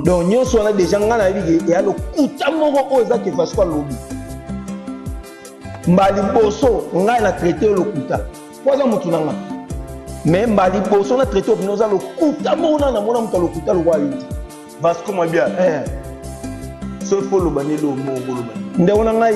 donc nyonso wana deja ngai nayebi ke eya lokuta moko oyo eza ke vasco alobi mbala liboso ngai na traite yo lokuta po aza motu na ngai mais mbala liboso na traite opina oza lokuta moko nana namona moto ya lokuta lokola yo te vasco mabia eh. soki fo oloba nde eloo moko oloba ndeko na ngai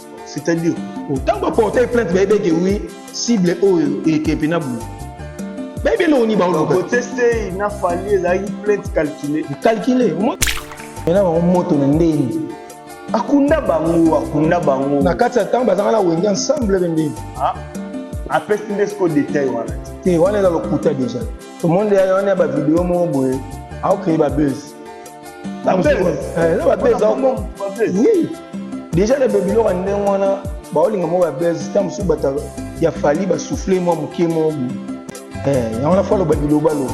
c'est-à-dire ntango baportai plainte bayebi eke wi cible oyo ekepe na boye bayebi eloko nini baolobakotestei na fali ezalaki plainte calcule calcule mena bango moto na ndenge akunda bango akunda bango na kati ya ntango bazanga na wenge ensemble be ndenge ah, apesi nde siko detail wana te wana eza lokuta deja tomoni wana ya bavideo moko boye aokreye babese deja na babiloko ya ndenge wana baolinga moko ya base ntango mosusu bato ya fali basouffle mwa moke moko eh, yango na fo aloba bilobaloba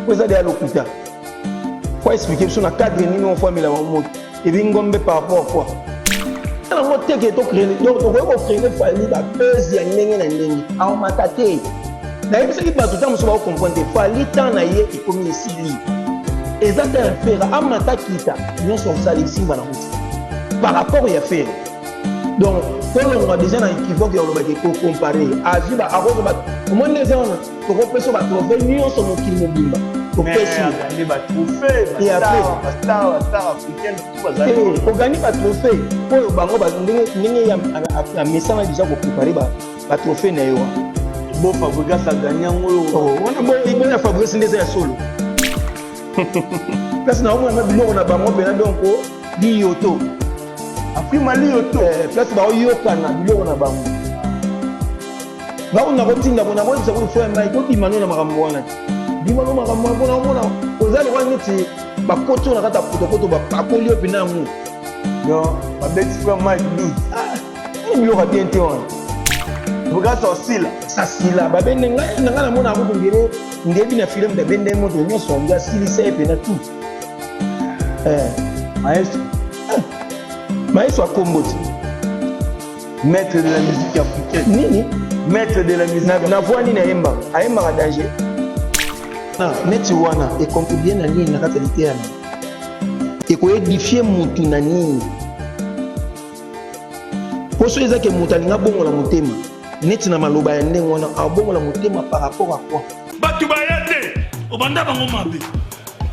po eza deya lokuta fo explike biso na cadre nini ofamela bango moto Ebingombe par rapport à quoi tala ngo teke tocrene donc tokoki kocrene fali bapese ya ndenge na ndenge aomata te nayebisaki bato ntango mosusu bakokomprendre te fali ntan na ye ekomi esili eza ta ya fera amata kita nyonso osali esimba na kuti par rapport ya fera donc tolongwa deja na ekivoke ya olobaki kocompare azwi akozwa omoni eza wana tokopesa ba trophee nyonso mokili mobimba topesi ogani ba trophee oyo bango ndenge ya misala deja koprepare ba trophee na yo bo fabrigas agani yango oyo oh, wana boyo ya fabrigas nde eza ya solo place na omona biloko na bango mpena donk liyoto afrimaliyoto place baoyokana biloko na bango Nako nako tinda ko nako yebisa ko fo ya mai ko bima no na makambo wana ti. Bima no makambo wana pona omona oza lokola neti ba koto na kata poto poto ba pakoli yo pina yango. Donc ba beti fo ya mai bi. Ah, ni bilo ka bien te wana. Buka sa sila. Sa sila ba bende ngai na ngai na mona ko ngere ngebi na film da bende moto nyoso nga sili sai pena tout. Eh, maestro. Eh, maestro akomboti. Maître de la musique africaine. Nini? Maître de la musique. Na, na voix nini ayemba? Ayembaka danger. Ah, neti wana ekontribue na nini na kati ya liteya na ekoedifie motu na nini mpo soki ezaki moto alingi abongola motema neti na maloba ya ndenge wana abongola motema par rapport a quoi bato baya te obanda bango mabe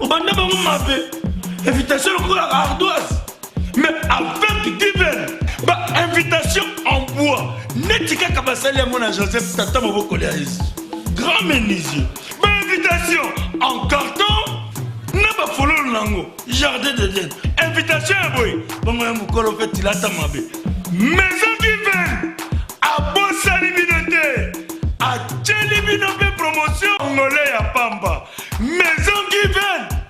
obanda bango mabe invitation lokola ardoise mais avec divin ba invitation en bois neti kaka basali yango na joseph tata mobokoli ya yesu grand menuisier ba invitation en carton na bafololo na yango jardin de den invitation ya boye bongo ya mokolo mpe tilata mabe maison divin abosani bino te atyeli bino mpe promotion ngole ya pamba maison divin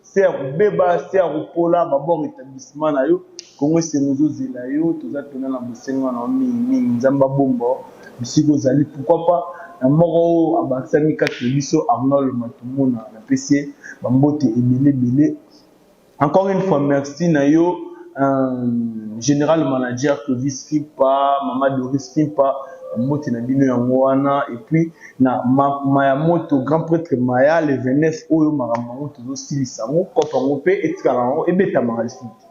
se ya kobeba se ya kopola babor etablissement na yo kongo esengo ezozela yo toza mpena na bosenga na yo mingi mingi nzambe abomba bisika ozali pourkoi pa na moko oyo abakisami kati na biso arnold matumona na pesi ye bambote ebele ebele encore une fois merci na yo euh, general manager clovis kimpa mama doris kimpa bambote na bino yango wana epuis na ma, maya moto grand pretre maya le 29 oyo makambo yango tozosilisa yango kope yango mpe etikala yango ebetamaka lisusu te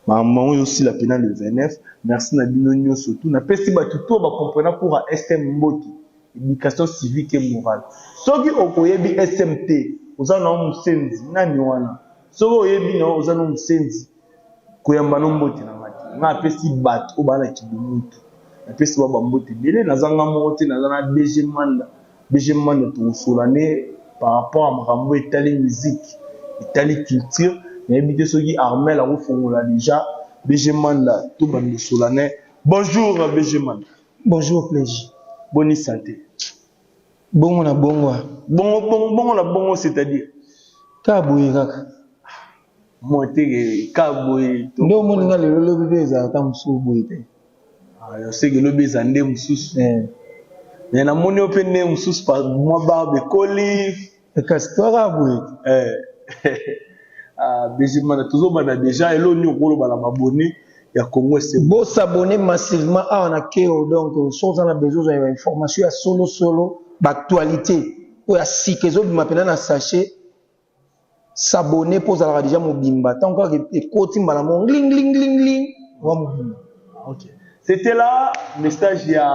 makambo yango ezosila mpena le 29 merci na bino nyonso tu napesi bato to bacomprena cour ya sm mbote éducation civique et morale soki okoyebi sm te oza nao mosenzi nani wana soki oyebi nao oza no mosenzi koyamba no mbote na nga te nga apesi bato oyo baa na kibomoto napesi ba bambote ebele naza nga moko te naza na dg manda dg manda tokosola ne par rapport ya makambo etali miziki etali culture nayebi te soki armel akofongola deja dg manda to bando sola ne bonjour dg manda bonjour plegi boni sante bongo na bongo bongo bongo bongo na bongo c'est à dire kaka boye kaka mwa te ka boye nde omoni nga lelo lobi mpe ezala ata mosusu boye te ah, ya seke lobi eza nde mosusu eh. me namoni yo mpe nde mosusu mwa barbe ekoli eh, kasi toaka boye eh. ah, bezimana tozobanda deja elo nini okoloba na babone ya congo ese bosabone massivement awa na keo donc soki oza na besoin ozwa ya information ya solosolo baactualité oyo ya sika ezobima mpena na sachet S'abonner po ozalaka dejà mobimba tango kaka ekoti mbala moko ngling ngling ngling ngling oza mobimba. Ok. C'etait là message ya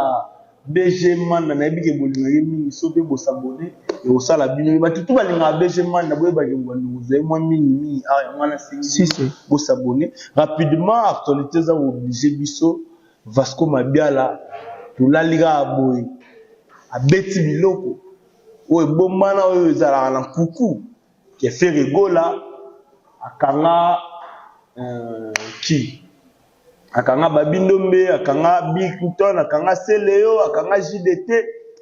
BG Manda nayebi ke bolingaka ye mingi soki pe bo s'abonner ekosala bino ye batu tout balingaka BG Manda boyeba ke mbwa nduku zali mwa mingi mingi awa yango wana nasengi bino bo s'abonner rapidement actualite eza ko obliger biso Vasco Mabiala tolali kaka boye abeti biloko. oyo ebombana oyo ezalaka na nkuku ke Ferre Gola akanga euh, ki akanga Babindombe akanga Bill Clinton akanga Celeo akanga JDT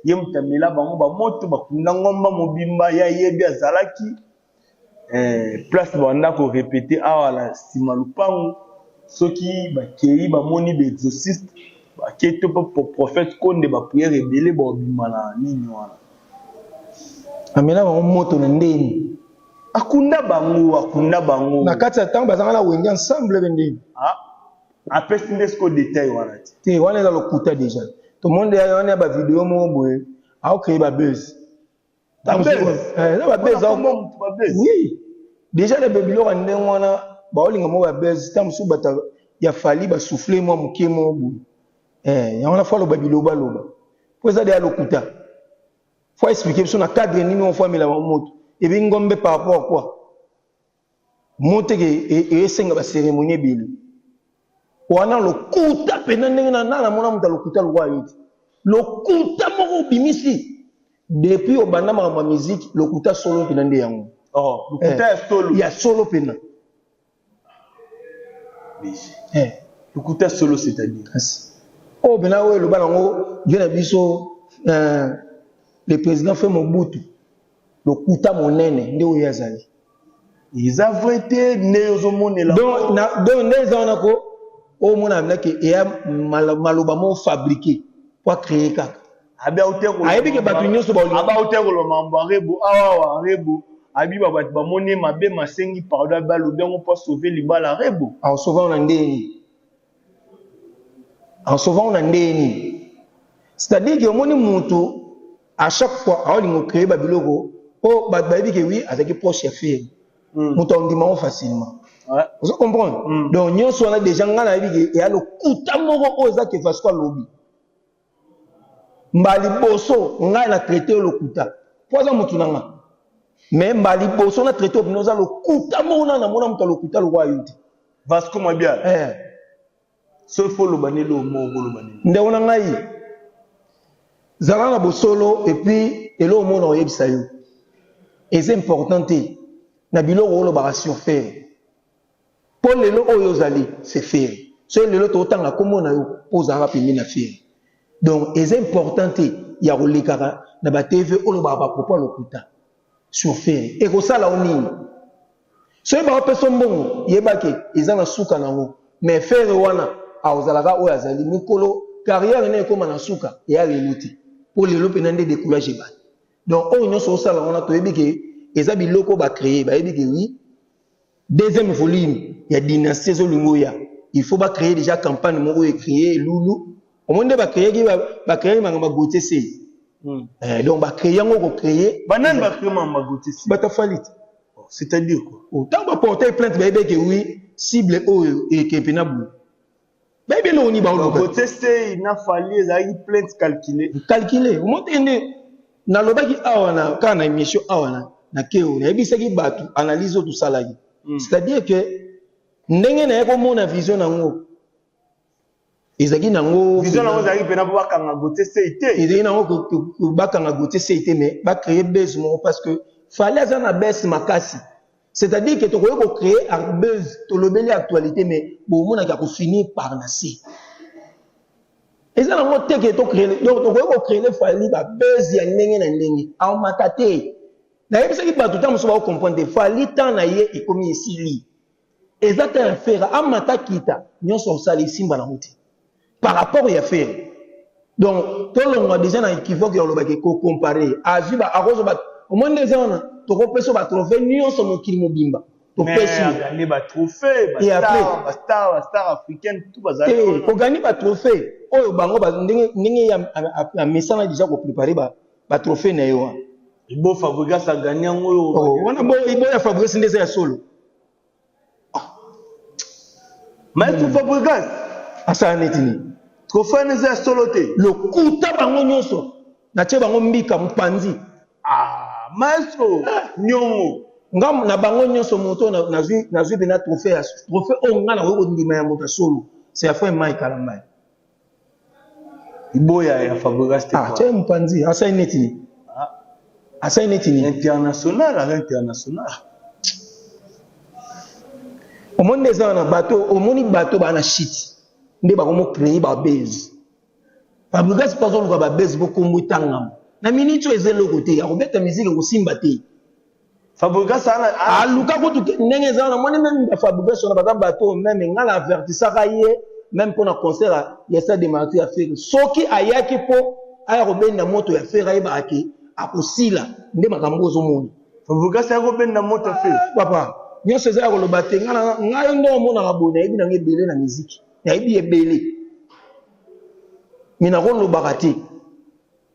ye mutamela bango bamoto bakunda ngomba mobimba ya yebi azalaki eh, place banda ko repete awa na sima lupangu soki bakei bamoni ba exorciste bakei to po prophète konde ba prière ebele baobima na nini wana amela bango moto na ndeni akunda bango akunda bango na kati ya ntango bazanga na wenge ensemble be ndeni ah, apesi nde siko detail wana ti te wana eza lokuta deja tomoni deya wana ya bavideo moko boye aokei babese deja na babiloko ya ndenge wana baolinga moko ya base ntango mosusu bato ya fali basouffle mwa moke moko boye eh, yango na fo aloba bilobaloba mpo eza deya lokuta fo explike biso na cadre nini ofo amelama moto ebi ngombe par rapport a quoi Moteke esenga ba ceremonie ebele wana lokuta pena ndenge na nana mona muta lokuta lokwa yoti lokuta moko obimisi depuis obanda makambo ya musique lokuta solo pena nde yango oh lokuta ya solo ya solo pena eh lokuta solo c'est-à-dire oh pena oyo eloba nango vie na biso le président fait mobutu Lokuta monene nde oyo azali. Eza vrai te nde ozo monela. Donc na donc nde eza wana ko o mona na ke eya maloba mo fabriquer pour créer kaka. Abi aute ko. Ayebi ke batu nyoso ba olinga. Abi aute ko loma mbo rebo awa wa rebo. Abi ba batu ba moni ye mabe masengi pardon abi alobi yango pour sauver libala rebo. Au sauver na ndenge nini? En sauvant ngo na ndenge nini? C'est-à-dire que omoni mutu à chaque fois aolinga ocreye babiloko po bato bayebi ke oui azalaki proche ya feri mm. moto aondima yango facilement ouais. ozo comprendre mm. donc nyonso wana déjà ngai nayebi ke eya lokuta moko oyo eza ke vasco alobi Mbala liboso ngai na traite yo lokuta mpo aza motu na ngai me mbala liboso na traite yo bino oza lokuta moko na namona moto ya lokuta lokola yo te vasco mabia eh. soki fo oloba nde eloko moko koloba nini ndeko na ngai zala na bosolo epuis eloko moko na koyebisa yo eza important te na biloko olobaka surfere Po lelo oyo ozali c'est ferre soki lelo toko tanga kombo na yo po ozalaka pembeni na ferre donc eza important te ya ko lekaka na ba TV olobaka ba propos ya lokuta sur ferre eko sala yo nini soki bako pesa yo mbongo yeba ke eza na suka na ngo mais ferre wana ako zala kaka oyo azali mukolo carrière naye ekoma na suka eya lelo te po lelo pena nde decoulage ebandi donc oyo nionso osala wana toyebi ke eza biloko ba cree bayebi ke oui Deuxième volume ya dynastie ezo linga oya il faut ba creer dejà campagne moko oyo ecreer elulu omoni nde ba creaki ba creaki makambo ya gautier sey Hmm. Eh, donc ba créer yango ko créer ba nani ba créer makambo ya gautier sey bata falit oh, c'est à dire quoi ntango oh, ba porter plainte bayebeke oui cible oyo ekempe na boye bayebi eloko nini baoluka kote sei na fali ezalaki plainte calcule calcule omote nde nalobaki awa na kaka na émission awa na na keo nayebisaki bato analyse oyo tosalaki mm. c'est-à-dire que ndenge naye komona vision nango ezalaki nango vision nango ezalaki mpena mpo bakanga gote sei te ezalaki nango bakanga gote sei te mais bacreye base moko parce que fali aza na base makasi C'est à dire que tokoki ko créer arbeuse tolobeli actualité mais bomonaki ako finir par na se eza nango te ke to créer donc tokoki ko créer fali ba buzz ya ndenge na ndenge aomata te nayebisaki bato ntango mosusu bakokomprendre te fali temps na ye ekomi esili eza te ya fera amata kita nyonso osala esimba nango te par rapport ya ferre donc tolongwa deja na equivoque ya olobaki kocompare azwi ba akozwa ba omoni nde eza wana tokopesa ba trophée nyonso mokili mobimba topesi agani ba trophée ba star ba star ba star africaine tout bazali eh, ogani ba trophée oyo bango ba ndenge ndenge ya amesana deja ko préparer ba ba trophée na ye wana ibo fabrigas agani yango oyo oh, wana bo ibo ya fabrigas nde eza ya solo Maestro hmm. Fabregas asala neti nini? Trophée eza ya solo te. Lokuta bango nyonso natie bango mbika mpanzi. Ah, maestro nyongo nga na bango nyonso moto nazwi nazwi bena trophée ya trophée oyo nga nakoki kondima ya moto ya solo c'est ya fin mai kala mai Iboya ya Fabregas te. Ah, tiens Mpanzi, asai neti ni. Ah. Asai neti ni. International, à l'international. Omoni nde eza na bato, omoni bato bana shit. Nde bakomo créer ba base. Fabregas mpe azoluka ba base po kombo etangama. Na minute oyo eza eloko te, akobeta musique ekosimba te. Fabrigas ana aluka kutu te ndenge eza na moni meme ba Fabrigas na baza bato meme nga na avertisaka ye meme mpo na concert ya stade de martyr ya Ferre soki ayaki mpo aya kobenda moto ya Ferre ayebaka ke akosila nde makambo ozomona Fabrigas ayaki kobenda moto ya Ferre papa nyonso eza ya koloba te ngai nde omonaka boye nayebi nango ebele na miziki nayebi ebele me nakolobaka te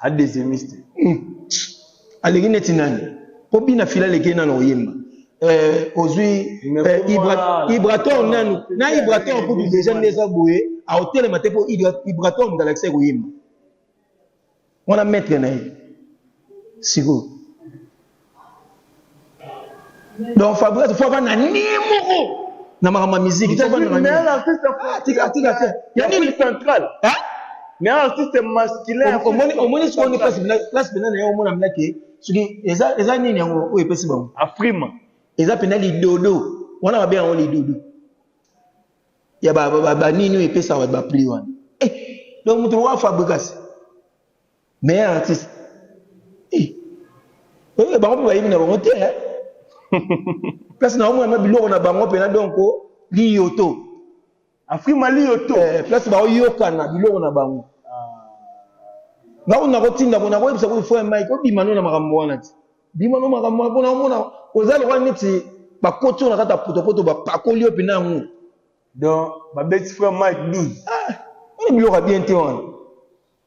a deuxiemiste hmm. aleki neti nani po bina fila aleki nana oyemba eh, ozwi eh, ibra, ibrator nanu na ibrator kutu deja nde eza boye aotelema te po ibrator moto alakisa ekoyemba wana maître na ye sikoyo donc fabrice fo avanda nie moko na makambo ya miziki omoni sikoyo place mpena na ye omona mna ke soki eza nini yango oyo epesi bango afrima eza mpena lidodo wana mabe yango lidodo ya banini oyo epesaka bapli wana eh, donc moto lokola fabrikasi meilleur artiste eh, eh, bango mpe bayebi na bango te eh. place na omona na biloko na bango mpena donc liyoto afrima liyoto eh, place baoyokana biloko na bango nao nakotinda ko nakoyebisa ko fo mike obima no na makambo wana ti bima no makambo wana mpona omona oza lokola neti bakoti oyo na kati ya potopoto bapakoli yo mpena yango donc babeti frère mike 12 ah, wana biloko ya bien te wana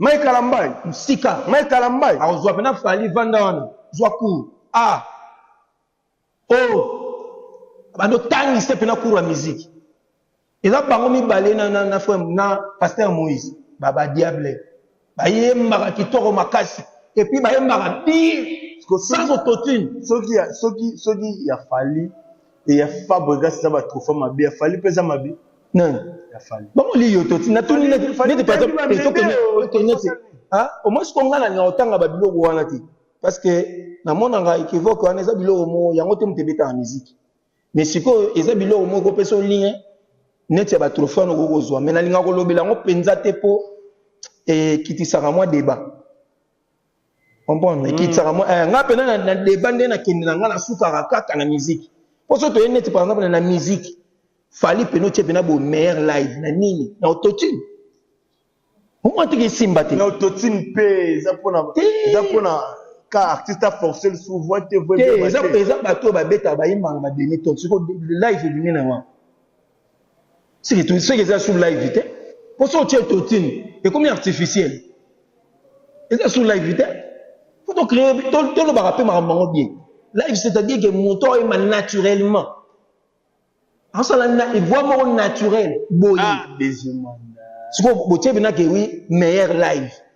Mike Kalambay musika. Mike Kalambay akozwa pena Fally vanda wana zwa cour a ah. oh bando tangi se pena cour ya musique eza bango mibale na na na frère na pasteur Moïse ba ba diable bayembaka kitoko makasi et puis bayembaka bien sans autotune soki soki soki ya Fally Et ya Fabregas na ba trophées mabe, ya Fally pesa mabe. Non. Ya Fally. Ba moli yo toti na tuni na ne pas ça. Et ce que ne que ne c'est. Hein? Au moins ce qu'on a na otanga ba biloko wana ti. Parce que na mona nga equivoque wana eza biloko mo yango te mutebe ta musique. Mais siko eza biloko mo ko pesa lien neti ya batrofe wana okoki kozwa mai nalinga kolobela yango mpenza te mpo ekitisaka mwa deba comprendre ekitisaka mwa eh, ngai mpena na deba nde nakende na ngai nasukaka kaka na miziki mpo so toye neti par exemple na miziki fali mpena otye mpena bomeilleur live na nini na autotune omwatiki esimba te na autotune mpe eza mpona eza mpona ka artiste aforce lisusu voi te voieza bato oyo babetaka bayimbaka bademi ton siko live ebimi na wana seke to seke eza sur live te po so otie totine ekomi artificiel eza sur live te po to créer tolobaka mpe makambo yango bien live c'est à dire que moto oyema naturellement asala na voix moko naturel boye ah, sikoyo botie bina ke wi meilleur live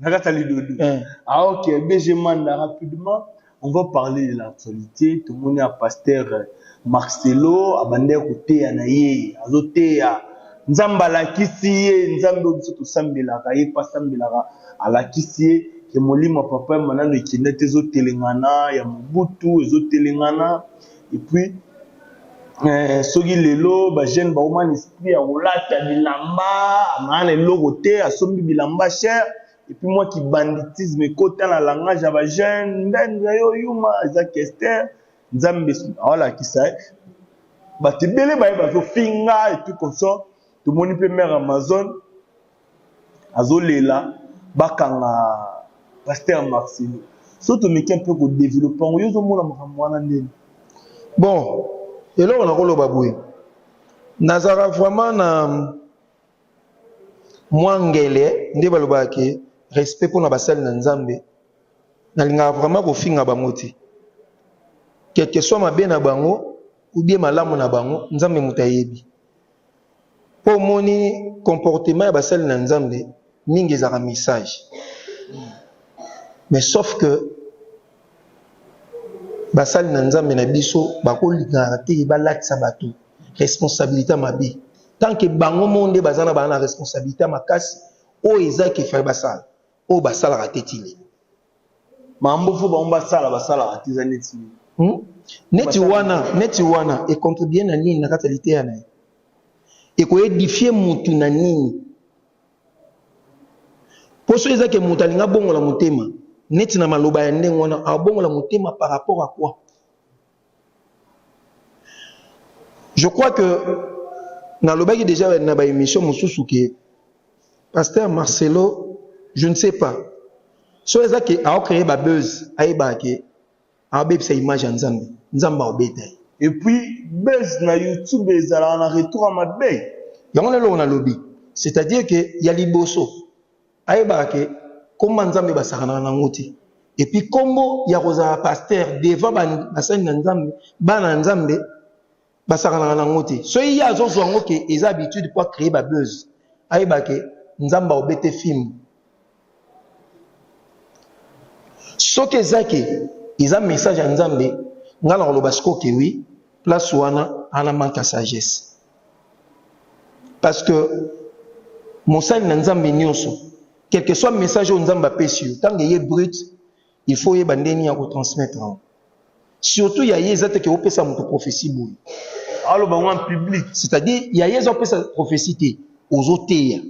na kati ya lidodo eh. ah ok bg manda rapidement on va parler de l'actualité tomoni ya pasteur euh, marcelo abandaki koteya na ye azoteya nzambe alakisi ye nzambe oyo biso tosambelaka ye mpe asambelaka alakisi ye ke molimo ya papa ya manano ekenda te ezotelengana ya mobutu ezotelengana et puis eh, soki lelo bajeune baoma na esprit ya kolata bilamba amaa na eloko te asombi bilamba cher epuis mwa kibanditisme ekota na langage ya bajeune mbende yo yuma eza kester nzambe aolakisa ye bato ebele baye bazofinga epuis consort tomoni mpe mare amazone azolela bakanga pasteur marcelo so tomeki mpe kodevelope yango yo ozomona makambo wana ndeni bon eloko nakoloba boye nazalaka vraiment na mwa ngele nde balobaka ke respect mpo na basali na nzambe nalingaka vraiment kofinga bango te quelque soit mabe na bango ou bien malamu na bango nzambe moto ayebi Po omoni comportement ya basali na Nzambe mingi ezalaka message mais sauf que basali na Nzambe na biso bakolingaka te balatisa batu responsabilite ya mabe tant que bango moko nde baza na ba na responsabilite ya makasi oyo eza qu'il fallait basala oyo basalaka te ti lelo. mambo fo bango basala basalaka te eza neti hmm? neti wana neti wana econtribue na nini na kati ya liteya na ye ekoedifie mutu na nini mpo soki eza ke moto alingi abongola motema neti na maloba ya ndenge wana abongola motema par rapport a quoi Je crois que nalobaki deja na ba émission mosusu ke pasteur Marcelo je ne sais pas so eza ke aocreye ba buzz ayebaka ke aobebisa image ya nzambe nzambe aobeta ye et puis buzz na youtube ezalaka na retour ya mabe yango na eloko nalobi c'est à dire ke ya liboso Ayebaka ke kombo ya nzambe basakanaka na ngo te et puis kombo ya kozala pasteur devant basali na nzambe bana ya nzambe basakanaka na ngo te soki ye azozua ngo ke eza habitude po acree ba buzz ayebaka ke nzambe aobete fimbu soki eza ke eza message ya nzambe ngai nakoloba sikoke wi place wana ana manque ya sagesse Parce que mosali na Nzambe nyonso, quel que soit message oyo Nzambe apesi yo, ntango eye brut, il faut oyeba ndenge nini ya kotransmettre yango. Surtout ya ye eza te ke opesa moto prophetie boye. Aloba yango en public. C'est-à-dire ya ye eza opesa prophetie te, ozoteya.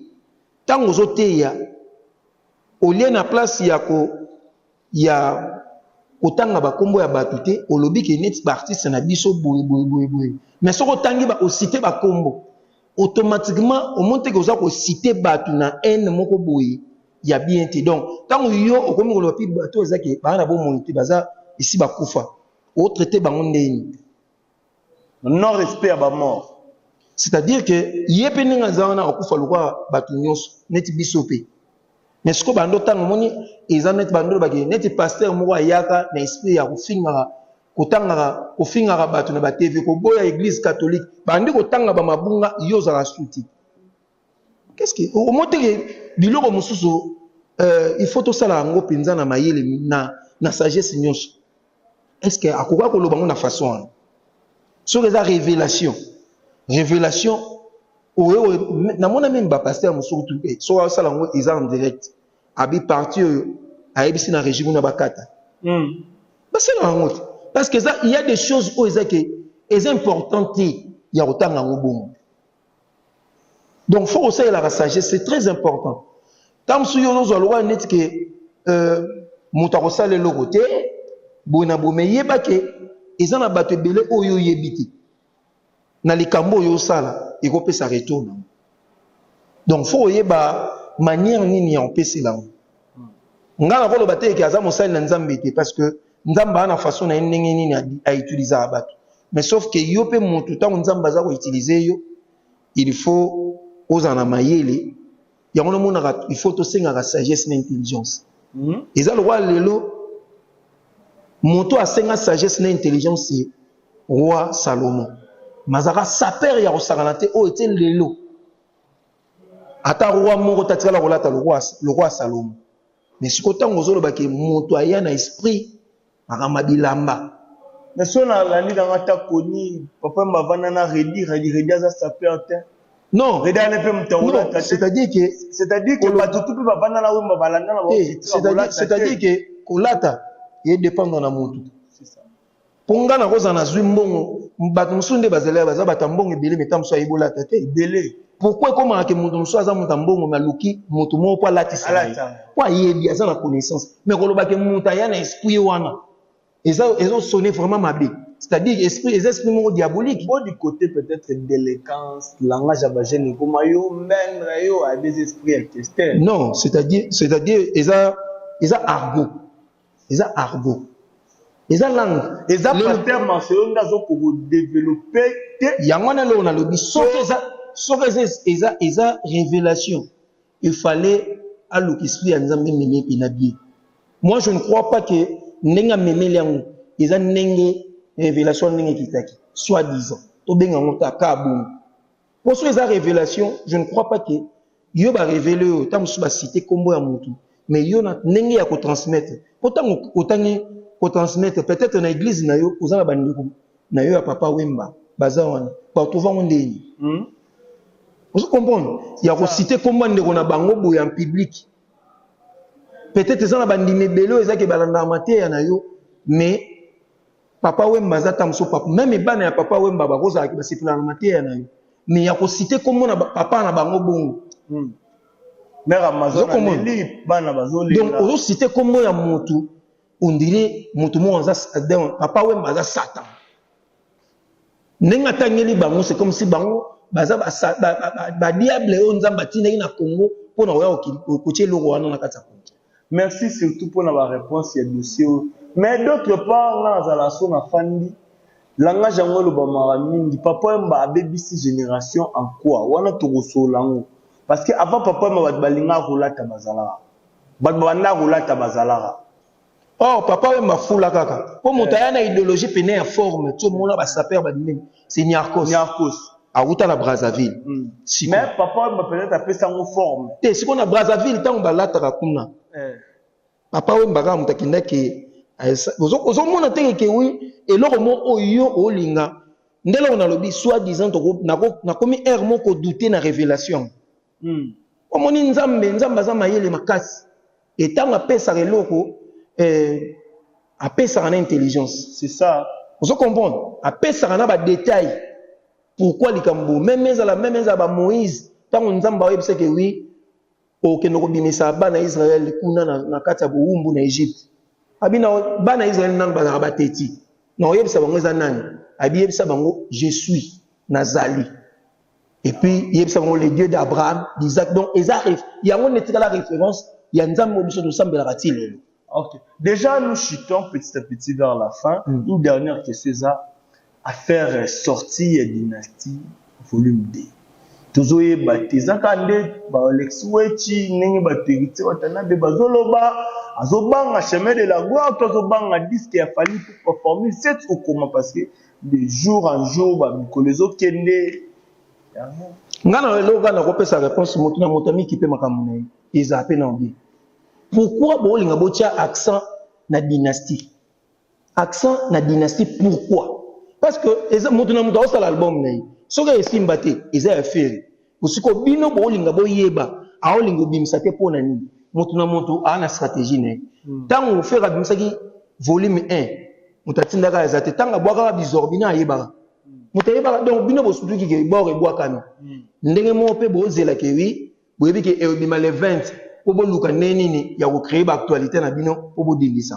Ntango ozoteya, au lieu na place ya ko ya kotanga bakombo ya bato te olobi ke neti baartiste na biso boye boye boye boye mais soki otangi osite bakombo automatiquement omoni teke oza kosite bato na haine moko boye ya bien te donc ntango yo okomi koloba mpe bato eza ke baa na bomoi te baza esi bakufa otraite bango ndeni Non respect ya ba mort. C'est-à-dire que ye pe ndenge aza wana akufa lokola bato nyonso neti biso pe. Mais siko bando tango moni eza neti bando baki neti pasteur moko ayaka na esprit ya kofingaka kotangaka kofingaka bato na ba TV koboya eglise catholique bandi kotanga ba mabunga yo ozala suti. Qu'est-ce que omoteke biloko mosusu euh, il faut tosala yango mpenza na mayele na, na sagesse nyonso est ce que akoka koloba yango na façon wana soki eza révélation révélation oyo namona meme bapaster mosusu tu eh, soki asala yango eza en direct abi parti oyo ayebisi na régime na bakata mm. basala yango te parce que eza il y a des choses oyo eza ke eza important te ya kotanga yango bongo donc faut kosalelaka sagesse c'est très important ntango mosusu yo ozozwa lokola neti ke euh, moto akosala eloko te boye na boye me yeba ke eza na bato ebele oyo oyebi te na likambo oyo osala ekopesa retour nango donc fo oyeba manière nini ya kopesela yango nga na koloba te ke aza mosali na nzambe te parce que nzambe ana façon na ye ndenge nini a utiliser ya bato mais sauf que yo pe moto tango nzambe aza ko utiliser yo il faut ozala na mayele yango na monaka il faut to sengaka sagesse na intelligence hmm? eza lokola lelo moto asenga sagesse na intelligence ye roi salomon mazaka sapere ya kosakana te oyo ete lelo Ata roi moko te atikala kolata lokwa Salomo. Mais siko ntango ozoloba ke moto aya na esprit makambo ya bilamba. Mais soki na landi na nga ta koni papa wemba avanda na reddy reddy reddy aza sapeur te. Non. Reddy aza pe moto ya kolata te. C'est à dire que c'est à dire que batu tout pe bavanda na wemba balanda na bango titre ya kolata te. C'est à dire que kolata e dependre na mutu. C'est ça. Po nga na kozala na zui mbongo bato mosusu nde bazali ya baza bata mbongo ebele meta mosusu ayebi olata te ebele pourkoi ekomaka ke moto mosusu aza moto ya mbongo me aluki moto moko mpo alatisa mpo ayebi aza na connaissance me kolobake moto aya na esprit wana ezosone vraiment mabe c'est-à-dire esprit eza esprit moko diabolique bo du côté peut-être déléquence langage ya bagene ekoma yo mendre yo abezi esprit ya kester non c'est-à-dire c'est-à-dire eza eza argot eza argot eza langue eza pasteur marcelo nde azo ko developper te yango wana eloko nalobi soki eza soki eza eza eza révélation il fallait aluka esprit ya nzambe meme mpena bie moi je ne crois pas que ndenge amemeli yango eza ndenge révélation ndenge ekitaki soit disant tobenga yango ta ka bongo Poso eza revelation, je ne crois pas que yo ba revele yo tango su ba cite kombo ya mutu mais yo na ndenge ya ko transmettre po tango otangi ko transmettre peut-être na église na yo oza na ba ndeko na yo ya papa Wemba baza wana ba retrouver ngo ndeni hmm? ozo comprendre ya ko cite kombo ndeko na bango boye en public peut-être eza na ba ndimi ebele eza ke balanda mateya na yo mais Papa Wemba aza ta mosusu papa meme bana ya papa Wemba bakozala basepela na mateya na yo mais ya kosite kombo na papa na bango bongo hmm. donc ozosite kombo ya motu ondire motu moko aza papa Wemba aza satan ndenge atangeli bango c'est comme si bango baza badiable oyo nzambe atindaki na congo mpo na koya kotia eloko wana na kati ya kongo Merci surtout pona ba reponse ya dossier oyo mais d'autre part nga nazala so na fandi langage yango elobamaka mingi papa wemba abebisi generation en quoi wana tokosolola yango parce que avant papa wemba bato balingaka kolata bazalaka bato babandaka kolata bazalaka Or papa wemba fula kaka po moto aya na ideologie pene ya forme to mona ba sapeurs ba bimi C'est Niarcos. Niarcos. awuta na brazzaville mm. Siko. mais papa wemba peut-être apesa yango forme te sikoyo na brazzaville ntango balataka kuna eh. papa wemba kaka moto akendaki ozomona te keke wi eloko mo oyo olinga nde eloko nalobi soit disant nakomi heure moko doute na révélation Omoni nzambe nzambe aza mayele makasi et tango apesaka eloko eh, apesaka na intelligence c'est ça ozo comprendre apesaka na ba detail pourquoi likambo meme ezala meme ezala ba moïse tango nzambe oyebisa ke oui okende oh, kobimisa bana israel kuna na, na kati ya bowumbu na egypte abina bana israel nanu bazalaka bateti na oyebisa bango eza nani abiyebisa bango je suis nazali Et puis, yebisa bango le Dieu d'Abraham, d'Isaac. Donc, eza ref. Yango ne tika la référence. Ya nzambe mo biso tosambela ka ti lelo. Ok. Déjà, nous chutons petit à petit vers la fin. Mm. Une dernière question, ça, à faire sortir dynastie volume 2. tozoyeba te eza kaka nde baalexi weci ndenge bato heritier watanabe bazoloba azobanga chemin de la gloire to azobanga diske ya fali pour performer sete okoma parce que De jour en jour ba mikolo ezo kende yango. Nga na eloko nga nakopesa reponse moto na moto amikipe makambo na ye ezala mpe na yo bien pourquoi bolinga botya accent na dynastie accent na dynastie pourquoi parce que eza moto na moto aosala album na ye soki esimba te eza ya feri Sikoyo bino bolinga boyeba aolinga obimisa te pona nini? Moto na moto a na strategie na ye. Hmm. Tango hmm. Ferre abimisaki volume 1, moto atindaka eza te. Tango abwakaka bizor bino ayebaka. Hmm. Moto ayebaka donc bino bosutuki ke bor ebwakami. Hmm. Ndenge moko pe bozela ke oui, boyebi ke ebima le 20 po boluka ndenge nini ya ko créer ba actualité na bino po bodindisa.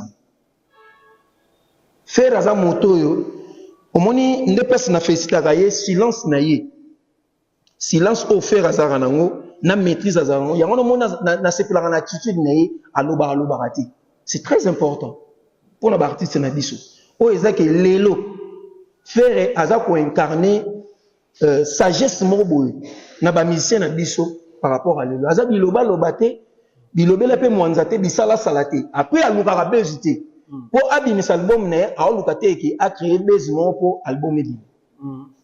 Ferre aza moto oyo omoni nde pasi na felicitaka ye silence na ye. Silence oyo ferre azalaka na yango na maitrise azalaka na yango yango na moni nasepelaka na attitude na ye alobaka alobaka te c'est très important mpo na baartiste na biso oyo eza ke lelo ferre aza koincarne euh, sagesse moko boye na bamusicien na biso par rapport à lelo aza bilobaloba te bilobela mpe mwanza te bisalasala te apres alukaka bezi te mpo hmm. abimisa album na ye aoluka te eke acree bezi moko mpo album ebima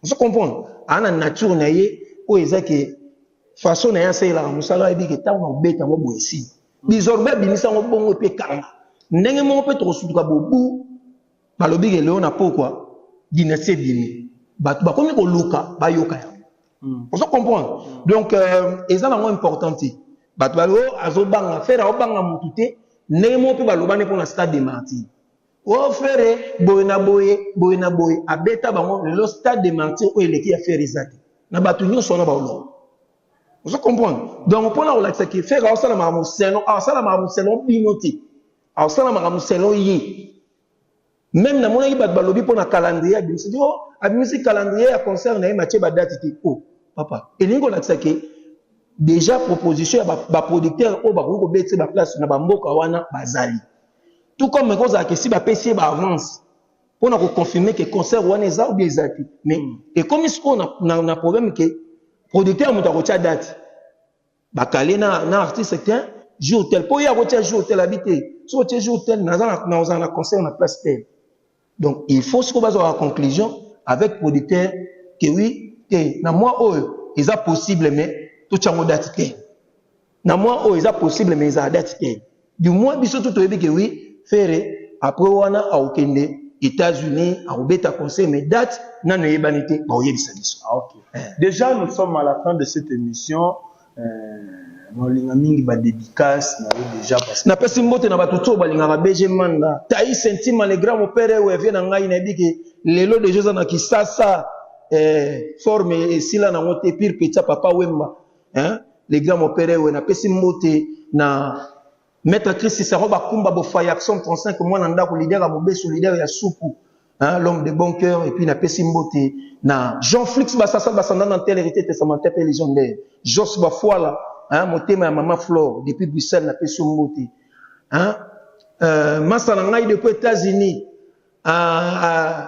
Ozo comprendre? Aza na nature na ye oyo eza ke façon na ye asalelaka mosala ayebi ke ntango nakobeta yango boye esili. Bizorbe abimisa yango bongo epe ekanga. Ndenge moko mpe tokosutuka bobu balobi ke lelo na pokwa dynastie ebimi. Bato bakomi koluka bayoka yango. Ozo comprendre? Donc euh, eza nango important te. Bato balobi oh, azobanga. Ferre aobanga mutu te. Ndenge moko mpe balobani mpo na stade de martyrs. Ohh ferre boye na boye boye na boye abeta bango lelo stade de martyrs oyo eleki ya ferre eza te na batu nionso wana ba olonga ozo comprendre donc mpona kolakisa ke ferre aosala makambo selon aosala makambo selon bino te aosala makambo selon ye meme namonaki bato balobi mpona calendrier abimisi o oh, abimisi calendrier ya concert na ye matie badate te o oh, papa elingi kolakisa ke déjà proposition ya baproducteur oyo bakoki kobetisa baplace na bamboka wana bazali Tout comme eko zala ke si ba pesi ye ba avance pona ko confirmer ke concert wana eza ou bien eza te. Mais mm. ekomi siko na, na, na problème ke producteur moto akotia date. Ba kale na na artiste ken jour tel po ye akotia jour tel abite. Soki otie jour tel naza na na ozala na concert na place tel. Donc il faut siko bazo la conclusion avec producteur que oui te na moi oyo eza possible mais tout chango date te. Na moi oyo eza possible mais eza date te. Du moins biso tout oyebi que oui Ferre après wana aokende États-Unis akobeta conseil mais date nanu eyebani te baoyebisa biso. Ah, okay. Eh. Déjà nous sommes à la fin de cette émission. Eh, naolinga mingi ba dedicace na yo deja parce que napesi mbote na bato tso balingaka BG Manda, Taïs Intima le grand mopere ou vie na ngai nayebi ke lelo deja oza na Kisasa eh, forme esila nango te pire petit papa Wemba eh, le grand mopere ou napesi mbote na Maître Christi Saro Bakumba Bofaya Action 35 mwana ndako leader ya Mobesu leader ya Suku hein, l'homme de bon cœur et puis na pesi mbote na Jean Flix Basasa Basanda na tel hérité testamentaire pe légendaire Jos Bafuala hein, motema ya maman Flore depuis Bruxelles na pesi mbote hein, euh, masa na ngai depuis États-Unis euh, euh,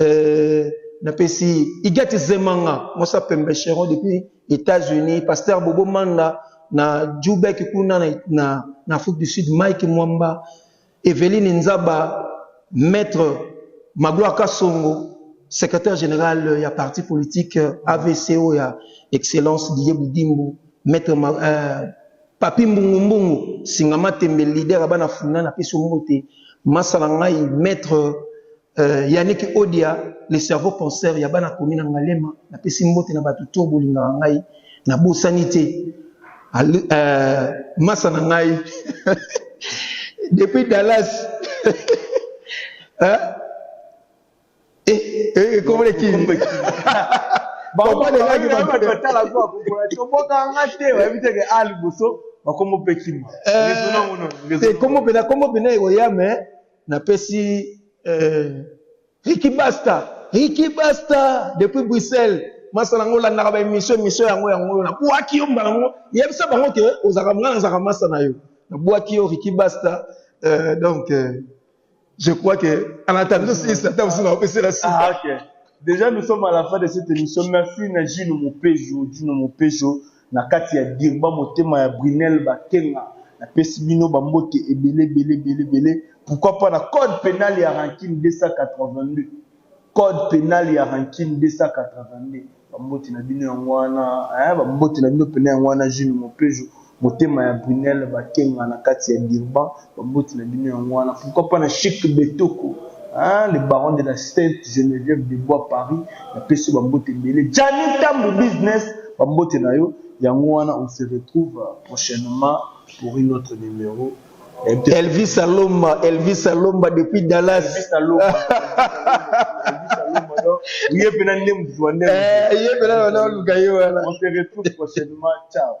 Euh, napesi Igati Zemanga, Mosa Pembe Cheron depuis États-Unis, Pasteur Bobo Manda na Djoubek kuna na, na, na Afrique du Sud, Mike Mwamba, Eveline Nzaba, Maître Magloire Kasongo, secrétaire général ya parti politique euh, AVCO ya Excellence Didier Boudimbo, Maître Ma, euh, Papi Mbungu Mbungu, Singama Tembe, leader ya bana funa, napesi mbote, masala ngai Maître Euh, Yannick Odia, le cerveau penseur ya bana komi na Ngalema, na pesi mbote na bato to bolingaka ngai, na bosani te. Euh, masa na ngai depuis Dallas hein? Eh, eh, comment les qui Papa de la gueule, tu vas la voir. Tu vas pas en rater. Ouais, mais t'es à l'impossible. Comment peut-il? Euh, comment peut-il? Comment peut-il? Comment peut-il? Na pesi eh. Ricky Basta, Ricky Basta depuis Bruxelles. Masa nango landaka ba émission émission yango yango na buaki yo mbala ngo yebisa bango ke ozaka mwana nzaka masa na yo. Na buaki yo Ricky Basta euh, donc euh, je crois que en attendant si ça t'a aussi na opérer la suite. Ah, OK. Déjà nous sommes à la fin de cette émission. Merci na Gino Mopejo, Gino Mopejo. Na kati ya Dirba motema ya Brunelle Bakenga na pesi bino ba mbote ebele ebele ebele ebele pourquoi pas na code penal ya rancune 282 code penal ya rancune 282 ba mbote na bino yango wana hein ba mbote na bino pena yango wana Jules Mopejo motema ya Brunelle Bakenga na kati ya Dirba Baboti na bino yango wana pourquoi pas na chic betoko hein le baron de la sainte Geneviève de bois Paris na pesi ba mbote ebele Gianni Tambu business ba mbote na yo yango wana on se retrouve prochainement pour une autre numero Elvis Alomba Elvis Alomba depuis Dallas Elvis Alomba ye pena nde mutu wa nde ye pena wana luka ye wana on se retrouve prochainement ciao